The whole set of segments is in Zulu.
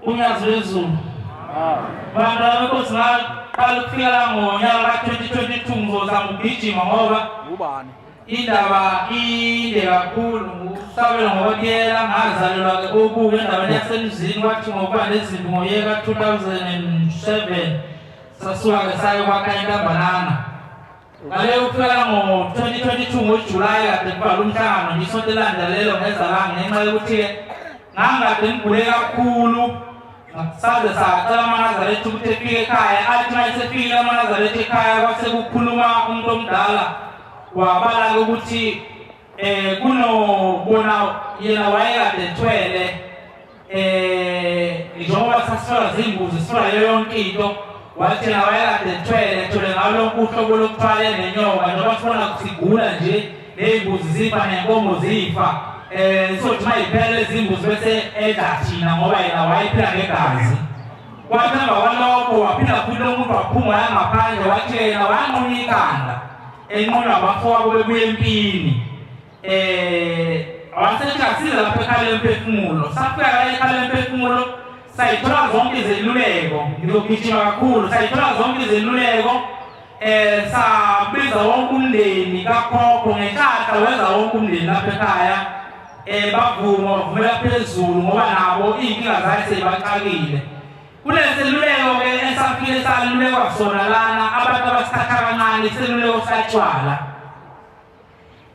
unyaka lwezulu bantu abekosi baqala ukufika la ngonyaka ka-2022 ngizozama ukugijima ngoba indaba inde kakhulu sabela ngokwakuyela ngazalelwa-ke ubuke endaweni yasemzini kwathi ngokuba nezimbi ngoyeka 2007 sasuka-ke sayokwakha intambanana Uqale ukuthwala ngo-2022 ngoJulayi kade kuvalwa umhlangano ngisonto elandelelo ngeza la ngenxa yokuthi-ke ngangikade ngigule kakhulu saze sacela amanazaretha ukuthi efike ekhaya athi uma esefikile amanazaretha ekhaya kwase kukhuluma umuntu omdala wabala-ke ukuthi um eh, kunobona yena wayekade ethwele eh njengoba sasifika zimbuzi sifika yonke into wathi nawe kade thwele thole ngawo lonke uhlobo lokuthwale nenyoka njengoba sifuna kusigula nje ney'mbuzi zifa nenkomo zifa um sothi uma yiphela izimbuzi bese edla thina ngoba yena wayephila ngegazi kwathi emva kwalokho waphila futhi lo muntu waphuma yangaphandle wathi yena wanqunyikanda enqonywa abafowabo bebuya empini eh wasethasile lapho ekhala emphefumulo safika la ekhala emphefumulo sayithola zonke izeluleko ngizogijima kakhulu sayithola zonke izeluleko eh sabiza wonke umndeni kakhokho ngenhlahla wenza wonke umndeni lapha ekhaya eh bavuma bavumela phezulu ngoba nabo iyinkinga zakhe seyibaxakile kuneseluleko ke esafike salulekwa sona lana abantu abasithatha kancane iseluleko satshwala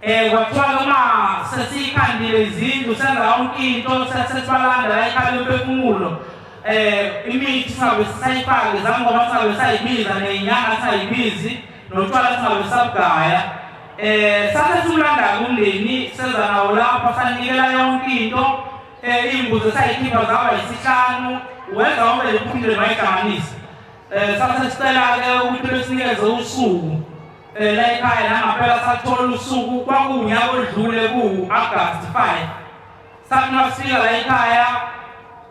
Eh wathwala uma sesikhandile izindlu senza yonke into sesesibalanda la ikhaya lomphefumulo eh imithi sabe sisayifake zangoba sabe sayibiza nenyanga sayibizi notshwala sabe sabugaya eh sase simlanda kumndeni senza nawo lapha sanikela yonke into eh imbuzo sayikhipha zaba isihlanu wenza wonke lephumile mayihlanganisa eh sase sicela ke ukuthi besinikeze usuku Phela ikhaya nangapela sathola usuku kwakuwunyaka odlule kuwu-agasti 5 sathi nasifika la ikhaya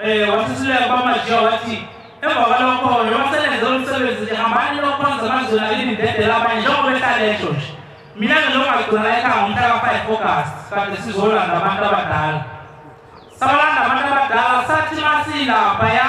um wasisileka kwamajiya wathi emva kwalokho noma selenze umsebenzi nje hambani lokhonza amazulu akini ndedela abanye njengoba ehlalesho nje mina-ke lokungagcina la ekhaya ngomhla ka-five august kade sizolanda abantu abadala sabalanda abantu abadala sathi masilaphaya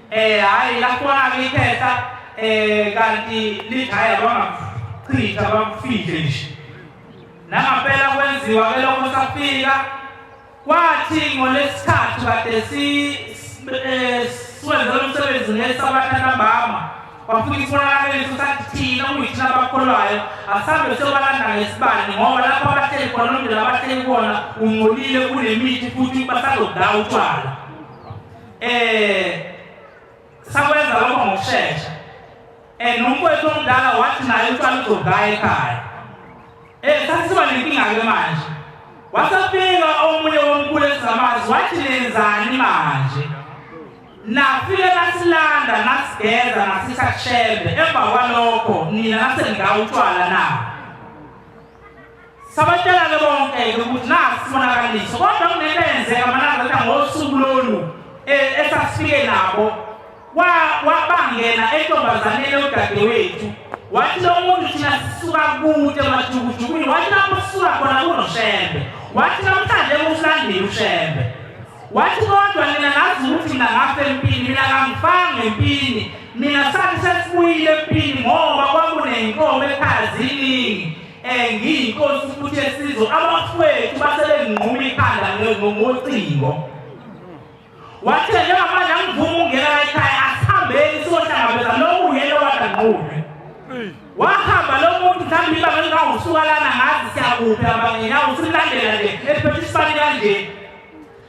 Eh hayi la khona ngithetha eh kanti lithaya bangakuchitha bakufihle nje. Nangapela kwenziwa ke lokho safika kwathi ngolesithathu kade si eh, siwenze umsebenzi ngesabatha ntambama kwafika isibonakalo leso sathi thina kuyithina abakholwayo asambe sebalanda ngesibani ngoba lapho abahleli khona nomndeni abahleli kona ungcolile kunemithi futhi basazodawu utshwala Eh sakwenza lokho ngokushesha. Eh nomfowethu omdala wathi naye uqala ukugaya ekhaya. Eh sasiba nenkinga ke manje. Wasafika omunye womkhulu esizamazi wathi nenzani manje? nafike nasilanda nasigeza nasisa kushembe emva kwalokho nina naseningawutshwala na Sabatshela-ke bonke-ke ukuthi nasi sibonakaliso kodwa kunento eyenzeka amalanga athi ngosuku lolu e, esasifike nabo wabangena entombazaneni yodadewethu wathi lo muntu thina sisuka kude emajukujukwini wathi lapho sisuka khona kunoshembe wathi namhlanje kusilandile ushembe wathi kodwa nina ngazi ukuthi mina ngafe empini mina kangifanga empini mina sathi sesibuyile empini ngoba kwakunenkomo ekhaya ziningi Eh ngiyinkosi futhi esizwe abafowethu basebenginquma ikhanda ngocingo. Wathe njengoba nangivuma ungena ekhaya asihambeni siyohlangabeza lowo uyena wadanqunywe. Wahamba lo muntu mhlawumbe ibanga lingawusuka lana ngazi siyakuphi abangena usimlandela nje esiphethe isibani kanje.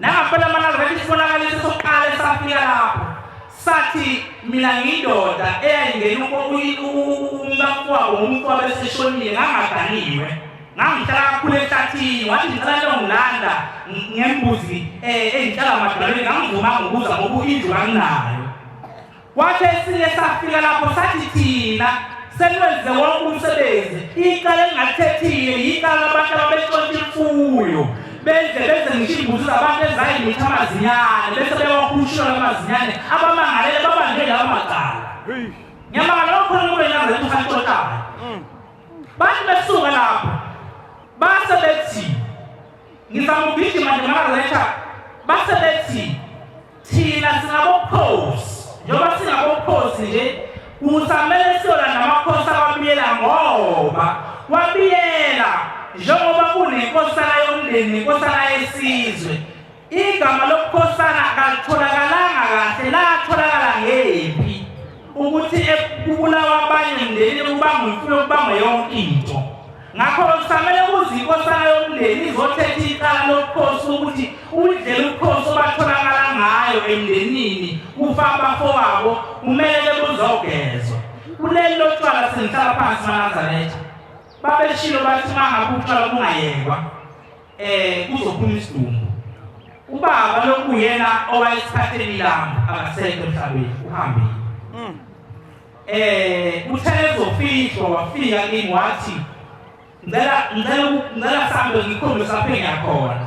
Nangempela amanazareti isibonakaliso sokuqala esafika lapho sathi mina ngiyindoda eyayingena umkakwabo umuntu wabeseshonile ngangaganiwe ngangihlala kakhulu ehlathini wathi ngicela longilanda ngembuzi um eh, engihlala madalweni ngangivumanga ukuza ngoba indlu kanginayo Kwathi esinye safika lapho sathi thina selwenze wonke umsebenzi icala elingathethile yicala abantu ababexontsha imfuyo benze benze ngisho imbuzi zabantu ezayimitha amazinyane bese bewahushula amazinyane abamangalele babanjwe lawo macala ngiyamangala bakhona kube nyazi emusantshotayo mm. bathi besuka lapho base bethi ngizamugijima nje makaletha base bethi Thina singabokhozi njengoba singabokhozi nje kusamele siyona namakhosi ababiyela ngoba wabiyela njengoba kunenkosana yomndeni nenkosana yesizwe igama lobukhosana kalitholakalanga kahle latholakala ngephi ukuthi kubulawa abanye mndeni kubangwa imfuyo kubangwa yonke into ngakho-ke kusamele kuze inkosana yomndeni izothetha icala lobukhosi ukuthi indlela ubukhosi obatholakala ngayo emndenini kufa abafowabo kumele buzogezwa kuleli lotshwala sengihlala phansi manazaretha babeshilo bathi uma ngabe utshwala bungayekwa um kuzophuma isidumbu ubaba lokuyena owayesithatheni lami akasekho emhlabeni uhambile Eh uthe ezofihlwa wafika kimi wathi ngicela ngicela ngicela sambe ngikhombe saphe ngiyakhona.